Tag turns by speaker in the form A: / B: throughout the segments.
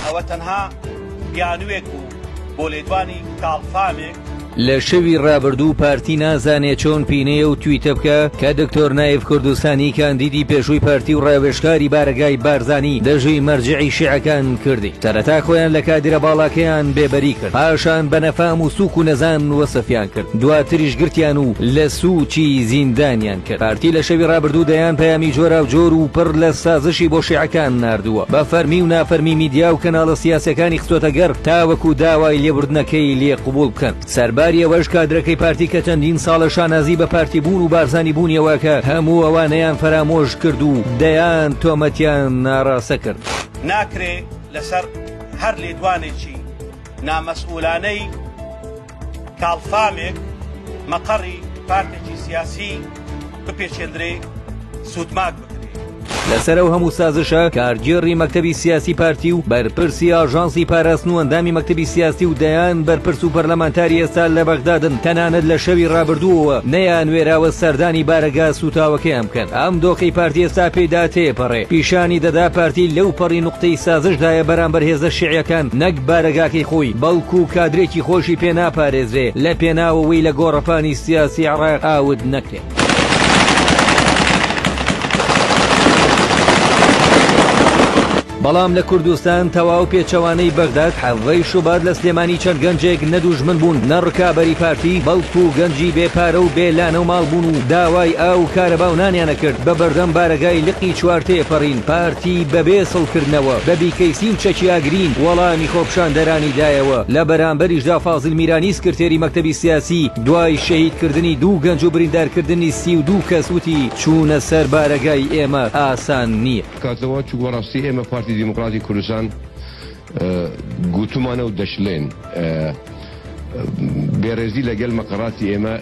A: ئەوە تەنها بیانوێک بوو بۆ لێدوانی کاڵفامێک. لە شەوی
B: ڕابردوو پارتی نازانێ چۆن پینەیە و تویتە بکە کە دکتۆر نایف کوردستانی کاندیدی پێشووی پارتی و ڕاوێژکاری بارەگای بارزانی دەژی مەرجعی شیعەکان کردی سەرەتا خۆیان لە کادیرە باڵاکەیان بێبەری پاشان بە نەفام و سوک و نەزان وەسفیان کرد دواتریش گرتیان و لە سوچی زیندانیان کرد پارتی لە شەوی رابردوو دەیان پەیامی جۆراو جۆر و پڕ لە سازشی بۆ شیعەکان ناردووە بە فەرمی و نافەرمی میدیا و کەناڵە سیاسیەکانی خستۆتە گەڕ تاوەکو داوای لێبوردنەکەی لێ قبوڵ بکەن سەرباری ئەوەش کادرەکەی پارتی کە چەندین ساڵە شانازی بە پارتی بوون و بارزانی بوونیەوە ئەکا هەموو ئەوانەیان فەرامۆش کرد و دەیان تۆمەتیان ئاڕاستە کرد. ناکرێ
A: لەسەر هەر لێدوانێکی نامەسئولانەی کاڵفامێک مەقەڕی پارتێکی سیاسی بپێچێندرێ سوودماک بکرێ. لەسەر ئەو
B: هەموو سازشە کارگێڕی مەکتەبی سیاسی پارتی و بەرپرسی ئاژانسی پاراستن و ئەندامی مەکتەبی سیاسی و دەیان بەرپرس و پەرلەمانتاری ئێستا لە بەغدادن تەنانەت لە شەوی ڕابردووەوە نەیانوێراوە سەردانی بارەگا سووتاوەکەیان بکەن ئەم دۆخەی پارتی ئێستا پێیدا تێپەڕێ پیشانی دەدا پارتی لەوپەڕی قوتەی سازش دایە بەرامبەر هێزە شیعیەکان نەک بارەگاکەی خۆی بەڵکو کادرێکی خۆشی پێ ناپارێزرێ لە پێناو ئەوەی لە گۆڕەپانی سیاسی عێڕاق ئاوت نەکرێ. بەڵام لە کوردستان تەواو پێچەوانەی بەغداد حەڤەی شوبات لە سلێمانی چەند گەنجێک نە دوژمن بوون نە ڕکابەری پارتی بەڵکو گەنجی بێ پارە و بێ لانە و ماڵ بوون و داوای ئاو و کارەبا و نانیان ئەکرد بە بەردەم بارەگای لقی چوار تێپەڕین پارتی بەبێ سڵکردنەوە بە بیکەیسی و چەکیاگرین وەڵامی خۆپیشاندەرانی دایەوە، لە بەرامبەریشدا فازیل میرانی سکرتێری مەکتەبی سیاسی دوای شەهیدکردنی دوو گەنج و بریندارکردنی سی و دوو کەس وتی، چوونە سەر بارەگای ئێمە ئاسان نییە. کات لەوە چوو بەڕاستی
C: ئێمە پارتی دیموکراتی کوردستان، گوتومانە و دەشلێن بێڕێزی لە گەل مەقەڕاتی ئێمە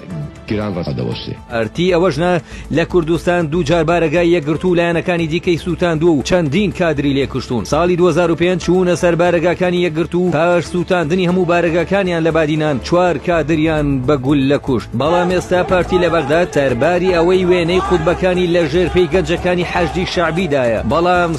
C: گران ڕەسە دەوەسێ. ئەرتی ئەوەش نا
B: لە کوردستان دووجار بارەگای یەکگرتوو و لایەنەکانی دیکەی سووتاندووە و چەندین کادری لێ کوشتوون. ساڵی دوو هەزار و پێنج چوونە سەر بارەگاکانی یەکگرتوو و پاش سووتاندنی هەموو بارەگاکانیان لە بادینان چوار کادریان بە گوللە کوشت. بەڵام ئێستا پارتی لە بەغداد سەرباری ئەوەی وێنەی خوتبەکانی لە ژێر پێی گەنجەکانی حەشدی شەعبی دایە بەڵام